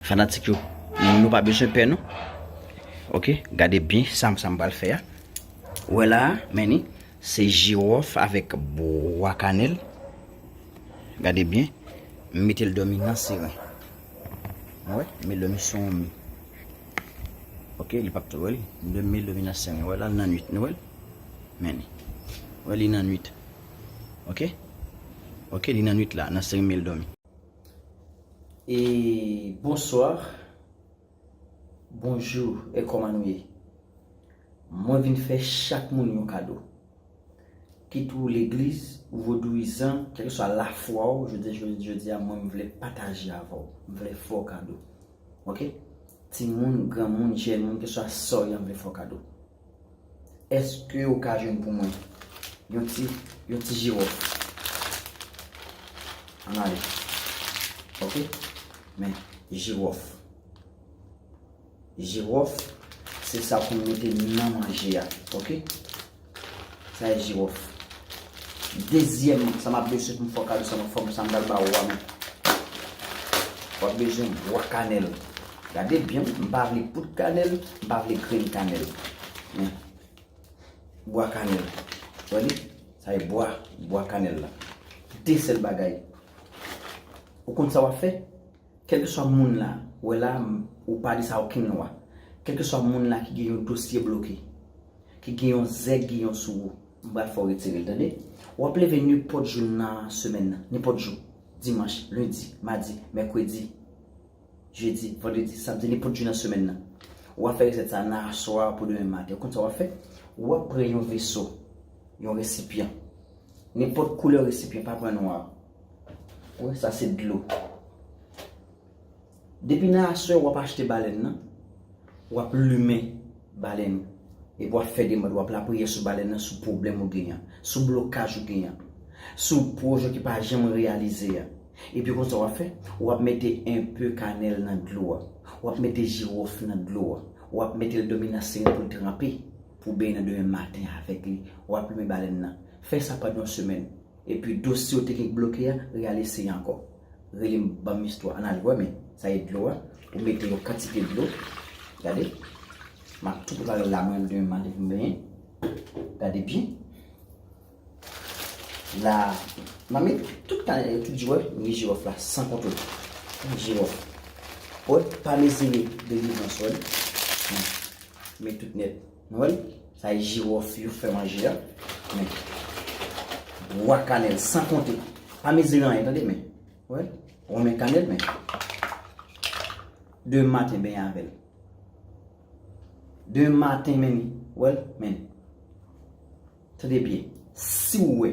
Fanatik yo nou pa bezwen pè non ok gade byen sa m pral fè a ou wè la a men ni se jiwòf avèk bwa kanèl gade byen m mete l dòmi nan siren ou wè m met l dòmi sou yon mi ok li pap tou wè li m met l dòmi nan siren ou wè la l nan nuit nou wè l men ni ou wè li nan nuit ok ok li nan nuit la nan siren m met l dòmi. E bonsoir Bonjou e kòman nou ye Mwen vin fè chak moun yon kado Kit ou legliz ou vodouyizan kèlkeswa lafwa ou jodi a mwen m vle pataje avè w M vle fè w kado Ok Timoun granmoun jèn moun keswa sa w ye m vle fè w kado. Eske ou ka jwenn pou mwen yon ti yon ti jirof? An ale. Ok? Men, jirof. Jirof, se sa pou mete nan manje a. Ok? Sa e jirof. Dezyèm, sa m ap bezwen pou m fè w kado sa m ap fè w, sa m pral ba ou a men. Ou ap bezwen bwa kanèl. Gade byen wi, m pa vle poud kanèl, m pa vle grenn kanèl. Men, bwa kanèl. Wè li? Sa e bwa, bwa kanèl la. De sèl bagay. Ou konn sa w ap fè? Kèlkeswa moun la, wè la, ou pa di sa okenn lwa. Kèlkeswa moun la ki gen yon dosye bloke, ki gen yon zèk giyon sou ou, m pral fè w retire l, tande? W ap leve nenpòt jou nan semèn nan, nenpòt jou, dimanch, lendi, madi, mèkredi. Jedi, vandredi, samdi, nenpòt jou nan semèn nan. Ou a fè resèt sa nan aswè a pou demen maten. Ou konn sa w a fè? Ou a pran yon veso, yon resipyan. Nenpòt koulè resipyan, pa pran nwa. Ou wè sa se dlo. Depi nan aswè ou a pa achte balèn nan, ou a plumen balèn. E pou a fè deman, ou a lapriyè sou balèn nan, sou pwoblèm ou genyen. Sou blokaj ou genyen. Sou pwojè ki pa janm reyalize a. Epi konsa wap fè, wap mete enpe kanèl nan dlo a, wap mete jirof nan dlo a, wap metel dòmi nan seren poul tranpe, pou benyen nan demen maten avèk li, wap plimen balèn nan. Fè sa pandan yon semèn. Epi dosye ou te gen k bloke a, real eseye ankò. Relem banm istwa an al wè men sa e dlo a, ou mete yon kantite dlo, gade, map tou preparel la mwen menm demen maten poum benyen, gade byen. La mamit tout kanè tout jwè mnje jirof la san kontwol tout jirof wè pa mezire delivrans wèl men men tout nèt nou wèl sa e jirof yo fè manje a men bwa kanèl san konte pa mezire anyen tande men wè wè men kanèl men demen maten benyen avèl demen maten menn wèl menn. Tande byen, si w wè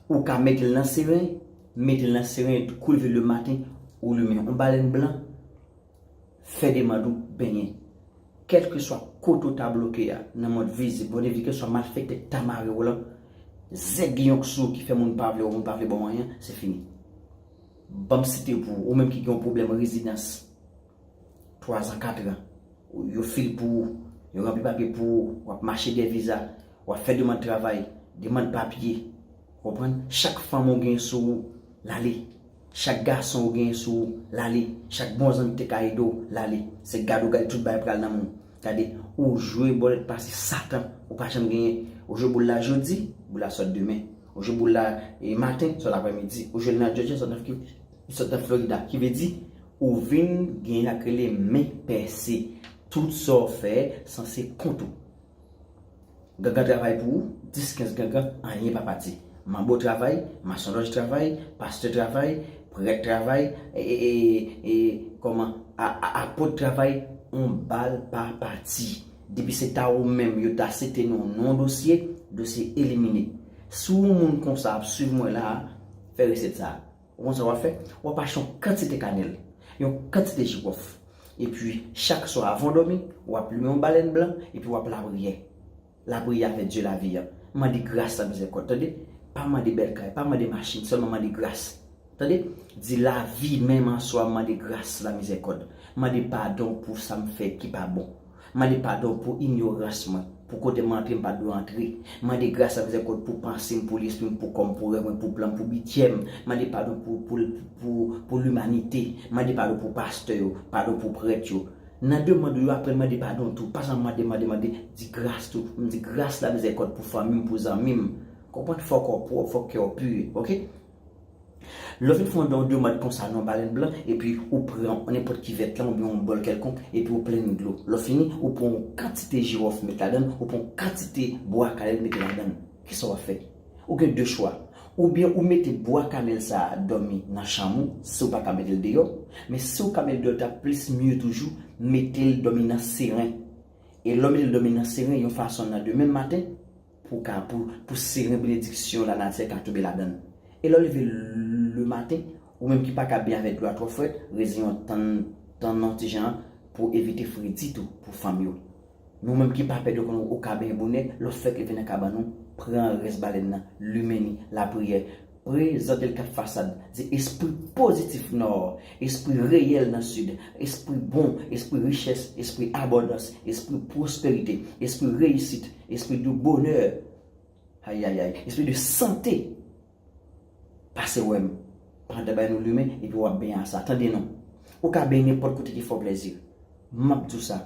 ou ka met l nan seren, met l nan seren epi kou leve lematen ou limen yon balèn blan, fè demand ou benyen. Kèlkeswa kote ou ta bloke a nan mond vizib, mond envizib, kèlkeswa malfèktè ki ta mare w lan, zèg yon k sou ou ki fè moun pa vle wè w, moun pa vle ba w anyen, se fini. Ban m site pou ou, ou menm ki gen yon pwoblèm rezidans. 3 zan 4 ran yo fil pou ou yo ranpli papye pou ou wap mache dè viza wap fè demand travay demand papye ou konprann chak fanm ou gen sou ou lale chak gason ou gen sou ou lale chak bon zanmi ki te ka ede w lale se gad ou gad tout bagay pral nan menw gade ou jwe bòlèt pase satan ou pa janm genyen ou jwe boul la jodi boul la sòt demen ou jwe boul la maten sòt aprè midi ou jwel nan jòjya sòt nan florida ki vle di Ou vin gen sak rele men pèse. Tout sa w fè san se kont ou. Gangan travay pou ou, 10 15 gangan anyen pa pati. Manbo travay, masonlòj travay, pastè travay, prèt travay, kòman apot travay on bal pa pati. Depi se ta ou menm yo ta site non non dosye, dosye elimine. Si w on moun konsa ap swiv mwen la a, fè resèt sa a. Ou konn sa wap fè? Wap achte yon kantite kanèl, yon kantite jirof, epi chak swa avan w dòmi, wap limen yon balèn blan, epi wap lapriyè. Lapriyè avè Dye lavi an. Mande gras ak mizèrikòd, tande. Pa mande bèl kay, pa mande machin, sèlman mande gras. Tande. Di lavi menm aswa mande gras, lamizèrikòd. Mande padon pou sa m fè ki pa bon. M mande padon pou inyorans mwen, pou kote m antre m pa t dwe antre. M mande gras ak mizèrikòd pou panse m, pou lespri m, pou kò m, pou rèv mwen, pou plan m, pou bidjè m. M mande padon pou, pou, pou, pou limanite. M mande padon pou pastè yo, padon pou prèt yo. Nan demand ou yo, aprann mande padon tou. Pa janm mande, mande, mande. Di gras tou. M di gras la, mizèrikòd pou fanmi m, pou zanmi m. Konprann? Fòk ou pwòp, fòk kè w pur. Ok? Lè w fin fè yon don demand konsa nan yon balen blan, epi ou pran nenpòt kivèt lan oubyen yon bòl kèlkonk, epi ou plen li dlo. Lè w fini, ou pran yon kantite jiwòf met ladan l, ou pran yon kantite bwa kanèl mete ladan l. Kisa w ap fè? Ou gen de chwa. Oubyen ou mete bwa kanèl sa a dòmi nan chanm ou, si w pa ka mete l deyò. Men si w ka mete l deyò l t ap plis mye toujou, mete l dòmi nan seren. E lè w mete l dòmi nan seren yon fason nan demen maten, Pou ka, pou, pou seren benediksyon lanatyè ka tonbe ladan l. E lè w leve lematen, ou menm ki pa ka byen avèk dlo a twò frèt, reziyen w tann, tann yon ti jan, pou evite fredi tou, pou fanm yo. Men ou menm ki pa pè dlo konnen ou ka benyen bonè, lè w fèk leve nan kabann ou, pran rès balèn nan, limen li, lapriyè, Pre zan Delkap Fasad di espri pozitif Nò, espri reyèl nan Sid, espri bon, espri richès, espri abondans, espri pwosperite, espri reyisit, espri de bonè, ayayay, espri de sante, pase wè m, Panda bay nou limen epi w ap benyen a sa. Tande non. Ou ka benyen nenpòt kote ki fè w plèzi. M ap di w sa.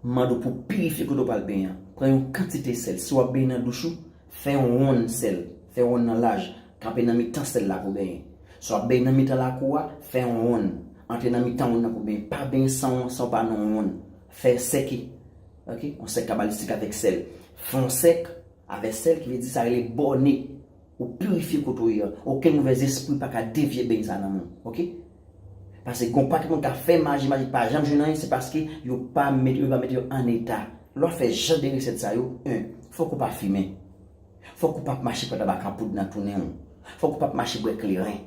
M mande w pou w pirifye kote w pral benyen an. Pran yon kantite sèl. Si w ap benyen nan douch ou, fè yon wonn sèl. Fè wonn nan laj. Kanpe nan mitan sèl la pou w benyen. Si w ap benyen nan mitan lakou a, fè yon wonn. Antre nan mitan wonn nan pou w benyen. Pa benyen san w pa nan yon wonn. Fè sèk. Ok? Yon sèk kabalistik avèk sèl. Fè yon sèk. Avè sèl ki vle di sa rele bòne ou pirifye kote ou ye an okenn movè zespri pa ka devye beny sa nan moun ok pase gon pakèt moun kap fè maji maji pa janm jwenn anyen se paske yo pa mete yo pa mete yo an eta lè wap fè jan de resèt sa yo 1 fòk ou pa fimen fòk ou pap mache pran tabak an poud nan tounen w fòk ou pap mache bwè kleren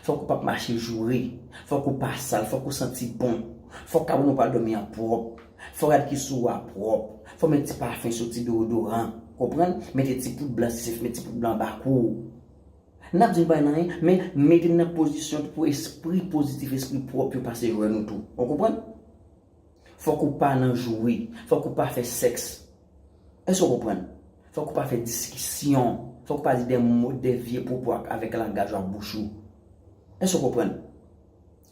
Fòk ou pap mache joure. Fòk ou pa sal. Fòk ou santi bon. Fòk kab nou pral dòmi an pwòp. Fò rad ki sou ou a pwòp. Fò met ti pafen sou ti deodoran. Konprann? Mete ti poud blan si se met ti poud blan anba kou ou. N ap di n pa nan anyen, men mete n nan pozisyon pou espri pozitif, espri pwòp yo pase jwe nou tou. Ou konprann? Fòk ou pa nan joure. Fòk ou pa fè sèks. Èske w konprann? Fòk ou pa fè diskisyon. Fòk ou pa di de mo, de vye pwopo ak avèk langaj ou ak bouch ou. Èske w konprann?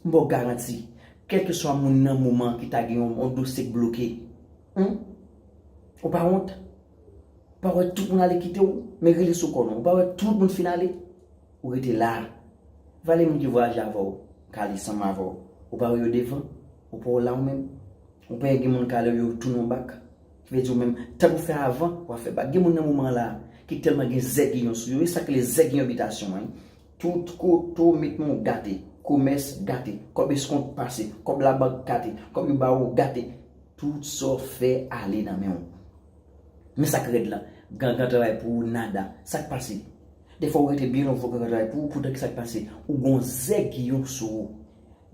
M ba w garanti, kèlkeswa moun nan moman an ki ta gen yon dosye k bloke, Hum? Ou pa wont? Ou pa wè tout moun ale kite w? Men rele sou kò w non. Ou pa wè tout moun fin ale? Ou rete la. Vale moun ki vwayaje avè w, k ale ansanm avè w. Ou pa wè yo devan? Ou pa w la ou menm? Ou pè gen moun kale w yo tounen w bak? Ki vle di ou menm, tan ou fè avan, w a fè bak. Gen moun nan moman an la a, ki tèlman gen zègiyon sou yo, e sa k rele zègiyon bitasyon an, tout kote w met men w gate, komès gate, kòb eskont pase, kòb labank gate, kòb yo ba ou gate, tout sa w fè ale nan men w. Men sa k rèd lan, gangan travay pou ou nada. Sa k pase? Dèfwa ou rete byen lontan fò gangan travay pou ou, poutan ki sa k pase? Ou gen w zègiyon sou ou.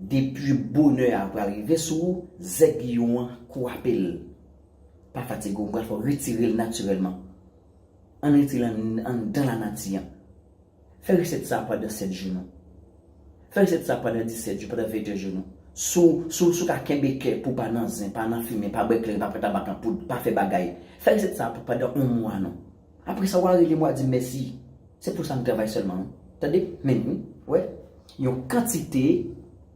Depi bonè a pral rive sou ou, zèk lyon an kwape l. Pa fatige w, m pral fè w retire l natirèlman. Ann retire l anndan lanati an. Fè resèt sa a pandan 7 jou non. Fè resèt sa a pandan 17 jou, pandan 21 jou non. Si w ka kenbe kè pou w pa nan zen, pa nan fimen, pa bwè kleren, pa pran tabak an poud, pa fè bagay, fè resèt sa a pou pandan on mwa non. Apre sa wa rele m wa di m mèsi. Se pou sa m travay sèlman wi. Tande, men wi, wè, yon kantite,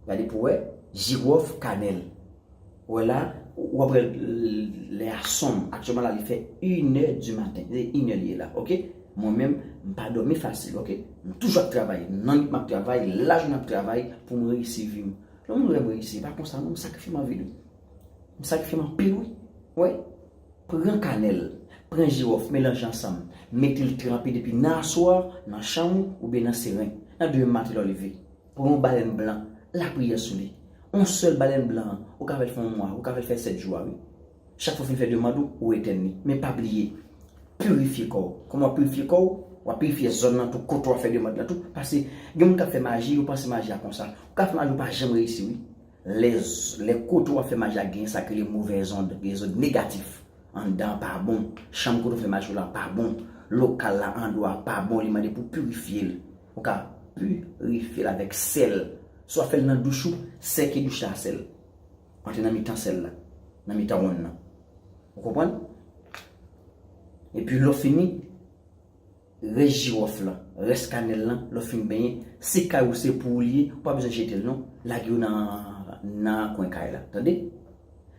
gade pou wè, jiròf, kanèl. Wè la, wa p wè lè a sonm. Aktyèlman la li fè inè di maten. Se inè li ye la, ok. Mwen menm, m pa dòmi fasil, ok. M toujou ap travay. Nan nwit m ap travay, lajounen m ap travay pou m reyisi vi m. Lè w wè m reyisi, e pa konsa non, m sakrifye m anvi l wi. M sakrifye m anpil wi. Wè, Pran kanèl, pran jiwòf melanje ansanm, mete l tranpe depi nan aswè nan chanm ou oubyen nan seren. Nan demen maten lè w leve, pran yon balèn blan, lapriyè sou li. Yon sèl balèn blan an, ou ka fè l fè yon mwa, ou ka fè l fè sèt jou a wi. Chak fwa w fin fè demand ou, ou etèn li. Men pa bliye, pirifye kò w. Kòman w ap pirifye kò w? W ap pirifye zòn nan tou, kote w ap fè demand lan tou. Pase gen moun k ap fè maji, yo panse maji a konsa. Ou ka fè maji ou pa janm reyisi wi. Lè kote w ap fè maji a gen sa ki rele movèz ond, les ondes négatifs, anndan an pa bon, chanm kote w fè maji w lan pa bon, lokal la, andwa a pa bon, li mande pou w pirifye l. Ou ka pirifye l avèk sèl. Si w ap fè l nan douch ou, sèke douch la a sèl. Antre nan mitan sèl la, nan mitan wonn nan. Ou konprann? Epi lè w fini. Rès jiwòf lan, rès kanèl lan lè w fin benyen, si kay ou se pou ou li ye, ou pa bezwen jete l non, lage yo nan nan kwen kay la, tande.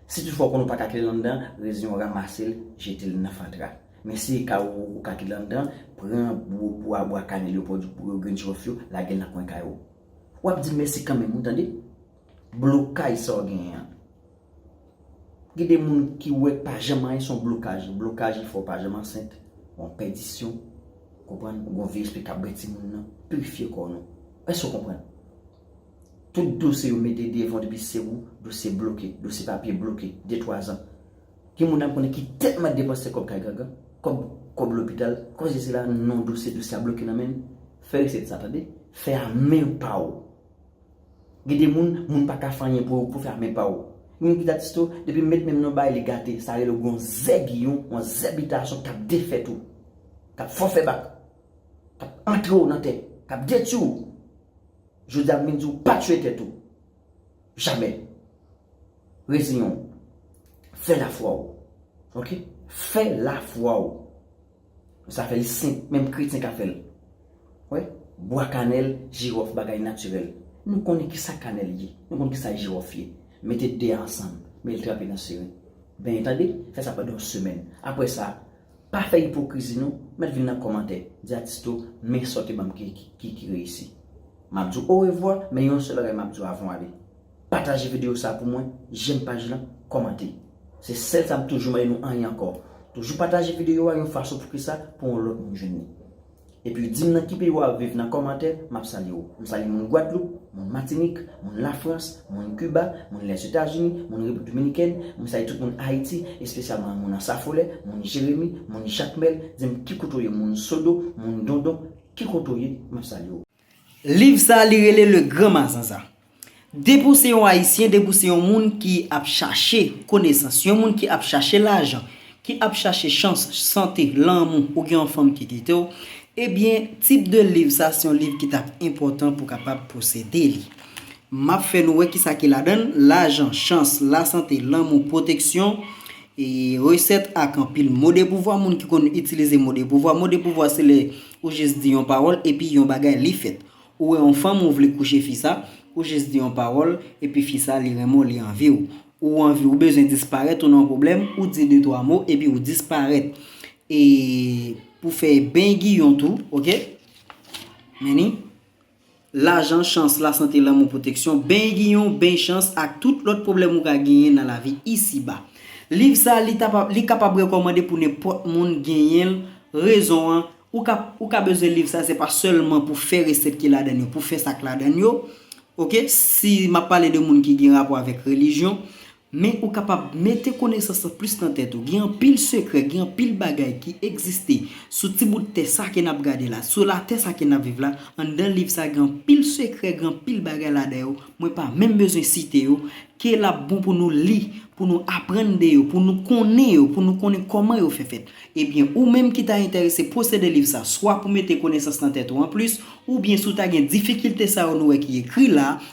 Si toutfwa ou konnen ou pa ka kite l anndan an, rezen yo ramase l, jete l nan fatra. Men si e kay ou, ou ka kite l anndan an, pran bwa bwa kanèl yo pou yo grenn jiwòf yo, lage l nan kwen kay ou. Ou ap di mèsi kanmenm wi, tande. Blokaj sa w genyen an. Gen de moun ki wè pa janm anyen se yon blokaj. Blokaj li fè w pa janm ansent. Yon pèdisyon. Ou konprann? Ou gen yon vye espri k ap bwè timoun nan. Pirifye kò nou. Èske ou konprann? Tout dosye yo mete devan w depi se ou, dosye bloke. Dosye papye bloke. De twa zan. Gen moun la m konnen ki tèlman depanse kòb kay gangan, kòb, kòb lopital, kòb sesi la, non dosye, dosye a bloke nan men l. Fè resèt sa tande. Fè a men pa w. Gen de moun, moun pa ka fè anyen pou yo, pou fè a men pa w. Gen moun ki ta tiste w, depi m met men m nan bay li gate, sa rele ou gen yon zèbiyon, yon zèbitasyon k ap defèt ou, k ap fè w fè bak, k ap antre w nan tè, k ap detwi w. Jodi a m vin di w pa tiye tèt ou. Jamè. Reziyen w. Fè lafwa w. Ok? Fè lafwa w. Sa fèl senp menm kretyen ka fèl wè bwa kanèl jiròf bagay natirèl nou konnen kisa kanèl ye nou konn kisa jiròf ye mete 2 a ansanm mel trape nan seren benyen tande fè sa pandan yon semèn aprè sa pa fè ipokrizi non mèt vin nan kòmantè di atis to men sa w te banm ki reyisi map di w orevwa men yon sèl bagay map di w avan w ale. Pataje video sa pou mwen, jèm paj lan, kòmante. Se sèl sa m toujou mande nou anyen ankò. Toujou pataje video a yon fason pouki sa pou yon lòt moun jwenn li. Epi di m nan ki peyi wap viv nan kòmantè, map salye ou. M salye moun Gwadloup, moun Matinik, moun Lafrans, moun Kiba, moun Lèzetazini, moun Repiblik Dominikèn, m salye tout moun Ayiti, espesyalman moun Ansafolè, moun Jeremi, moun Jakmèl, di m ki kote w ye moun Sodo, moun Dondon, ki kote w ye, map salye ou. Liv sa li rele le gran mazanza. Depi w se yon ayisyen, depi w se yon moun ki ap chache konesans, yon moun ki ap chache lajan, ki ap chache chans, sante, lanmou, ou gen yon fanm ki kite w, ebyen tip de liv sa se yon liv ki tap enpòtan pou kapab posede li. Map fè nou wè kisa ki ladan l, lajan, chans, lasante, lanmou, pwoteksyon, resèt ak anpil mo de pouvwa, moun ki konn itilize mo de pouvwa, mo de pouvwa se lè Ou jis di yon pawòl epi yon bagay li fèt. Ou wè yon fanm ou vle kouche fi sa, ou jis di yon pawòl epi fi sa li renmen w li anvi w. Ou anvi ou bezwen disparèt ou nan yon pwoblèm ou di de twa mo epi ou disparèt. E pou fè bengiyon tou ok. Meni. lajan, chans, lasante, lanmou, pwoteksyon, beny giyon, beny chans, ak tout lòt pwoblèm ou ka genyen nan lavi isi ba. Liv sa li ta pa li kapab rekòmande pou nenpòt moun genyen l rezon an ou ka ou ka bezwen liv sa se pa sèlman pou fè resèt ki ladan l yo pou fè sa k ladan l yo ok si m ap pale de moun ki gen rapò avèk relijyon Men ou kapab mete konesans lan plis nan tèt ou. Gen anpil sekrè, gen anpil bagay ki egziste sou ti bout tè sa ke n ap gade la, sou latè sa ke n ap viv la. Anndan liv sa gen anpil sekrè, gen anpil bagay ladan yo, mwen pa menm bezwen site yo, ke l ap bon pou nou li, pou nou aprann de yo, pou nou konnen yo, pou nou konnen kòman yo fè fèt. Ebyen, ou menm ki ta enterese posede liv sa, swa pou mete konesans nan tèt ou anplis, oubyen si w ta gen difikilte sa yo nou wè ki ekri la,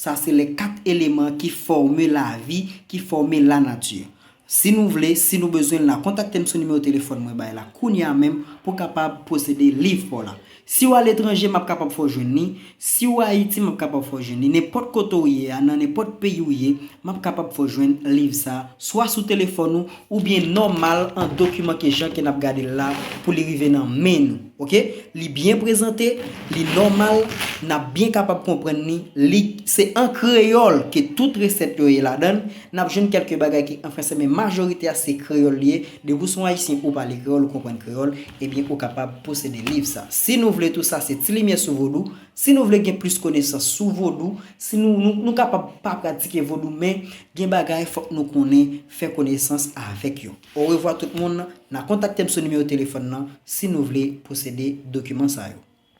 Sa se lè kat eleman ki fòme lavi, ki fòme lanati. Si nou vle, si nou bezwen l la, kontakte m sou nimewo telefòn mwen bay la kounye a menm pou w kapab posede liv pa w la. Si w aletranje, m ap kapab fè w jwenn li. Si w Ayiti, m ap kapab fè w jwenn li. Nenpòt kote w ye a, nan nenpòt peyi w ye, m ap kapab fè w jwenn liv sa a, swa sou telefòn ou, ou byen nòmal an dokiman ke jan ke nap gadel la pou li rive nan men nou ok li byen prezante li nòmal nap byen kapab konprann ni li se an kreyòl ke tout resèt yo ye ladann nap jwenn kèlke bagay ki an fransè men majorite a se kreyòl li ye depi ou son ayisyen ou pale kreyòl ou konprann kreyòl ebyen ou kapab posede liv sa si nou vle tou sa se ti limyè sou vodou si nou vle gen plis konesans sou vodou si nou nou kapab pa pratike vodou men gen bagay fòk nou konnen fè konesans avèk yo. Orevwa tout moun, na kontaktem sou nimewo telefòn nan si nou vle posede dokiman sa yo.